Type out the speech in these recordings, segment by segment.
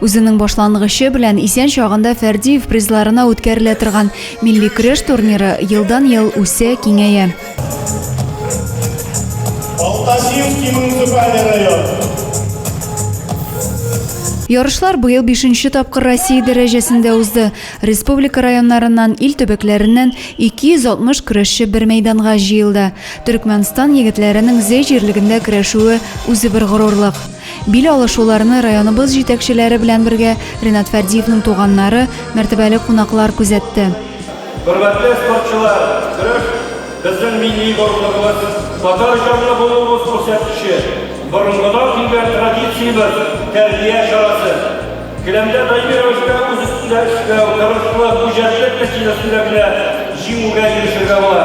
Үзенең башлангычы белән исән чагында Фәрдиев призларына үткәрелә торган милли көрәш турниры елдан-ел үсә, киңәя. Ярышлар быел бишенче тапкыр Россия дәрәҗәсендә узды. Республика районнарыннан, ил төбәкләреннән 260 көрәшче бер мәйданга җыелды. Төрекмәнстан егетләренең Зәй җирлегендә көрәшүе үзе бер горурлык. Бил алышуларны районыбыз җитәкчеләре белән бергә Ренат Фәрдиевнең туганнары, мәртәбәле кунаклар күзәтте. Хөрмәтле спортчылар, көрәш, безнең милли горурлыгыбыз, татар җанлы булуыбыз күрсәткече, борынгыдан килгән традициябез, тәрбия чарасы. Келәмдә даими рәвештә үз өстендә эшләү, тырышлык, үҗәтлек нәтиҗәсендә генә җиңүгә ирешергә була.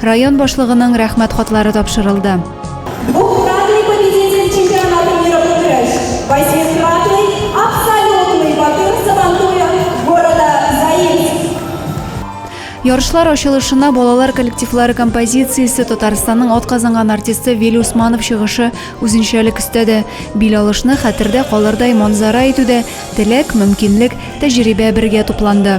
Район башлыгының рәхмәт хатлары тапшырылды. Ярышлар ачылышына балалар коллективлары композициясе, Татарстанның атказанган артисты Вели Усманов чыгышы үзенчәлек өстәде. Бил алышны хәтердә калырдай манзара итүдә теләк, мөмкинлек, тәҗрибә бергә тупланды.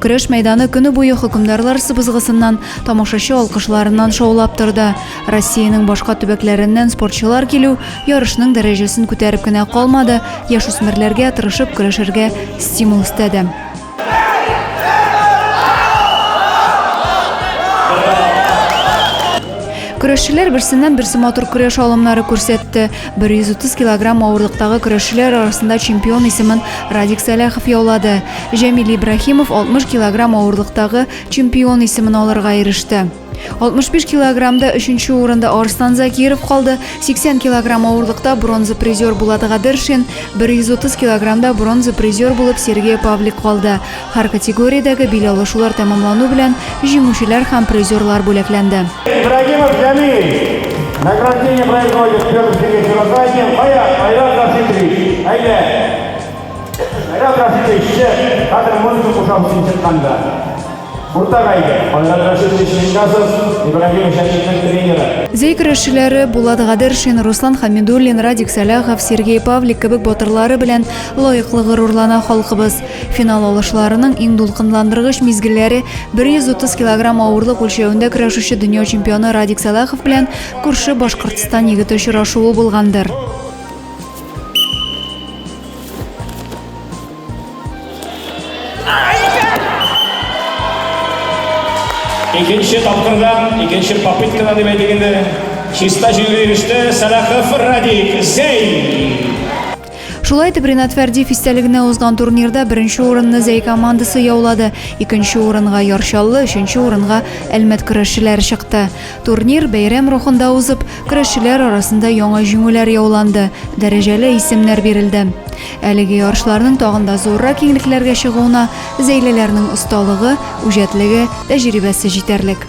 Көрәш мәйданы көне буе хөкемдарлар сыбызгысыннан, тамашачы алкышларыннан шаулап торды. Россиянең башка төбәкләреннән спортчылар килү ярышның дәрәҗәсен күтәреп кенә калмады, яшүсмерләргә тырышып көрәшергә стимул өстәде. Көрәшчеләр берсеннән-берсе матур көрәш алымнары күрсәтте. 130 килограмм авырлыктагы көрәшчеләр арасында чемпион исемен Радик Сәләхов яулады. Җәмил Ибраһимов 60 килограмм авырлыктагы чемпион исемен алырга иреште. 65 килограммда өченче урында Арслан Закиров калды, 80 килограмм авырлыкта бронза призер Булат Гадершин, 130 килограммда бронза призер булып Сергей Павлик калды. Һәр категориядәге бил алышулар тәмамлану белән җиңүчеләр һәм призерлар бүләкләнде. Ибрагимов Җәмил, награждение производит Пермский микрорайон, кая, Айрат Рафитович, әйдә. Айрат Рафитович, чык, хәзер музыка кушабыз син чыкканда. Уртага әйдә. Айрат Рафитович Мингасов, Ибрагимов Җәмилнең тренеры. Зәй көрәшчеләре Булат Гадершин, Руслан Хәмидуллин, Радик Сәлахов, Сергей Павлик кебек батырлары белән лаеклы горурлана халкыбыз. Финал алышларының иң дулкынландыргыч мизгелләре 130 килограмм авырлык үлчәвендә көрәшүче дөнья чемпионы Радик Сәлахов белән күрше Башкортстан егете очрашуы булгандыр. Икенче тапкырдан, икенче попыткадан дип әйтик инде, чиста җиңүгә иреште Сәлахов Радик Зәй. Шулай итеп, Ренат Фәрдиев истәлегенә узган турнирда беренче урынны Зәй командасы яулады. Икенче урынга Ярчаллы, өченче урынга Әлмәт көрәшчеләре чыкты. Турнир бәйрәм рухында узып, көрәшчеләр арасында яңа җиңүләр яуланды, дәрәҗәле исемнәр бирелде. Әлеге ярышларның тагын да зуррак киңлекләргә чыгуына зәйлеләрнең осталыгы, үҗәтлеге, тәҗрибәсе җитәрлек.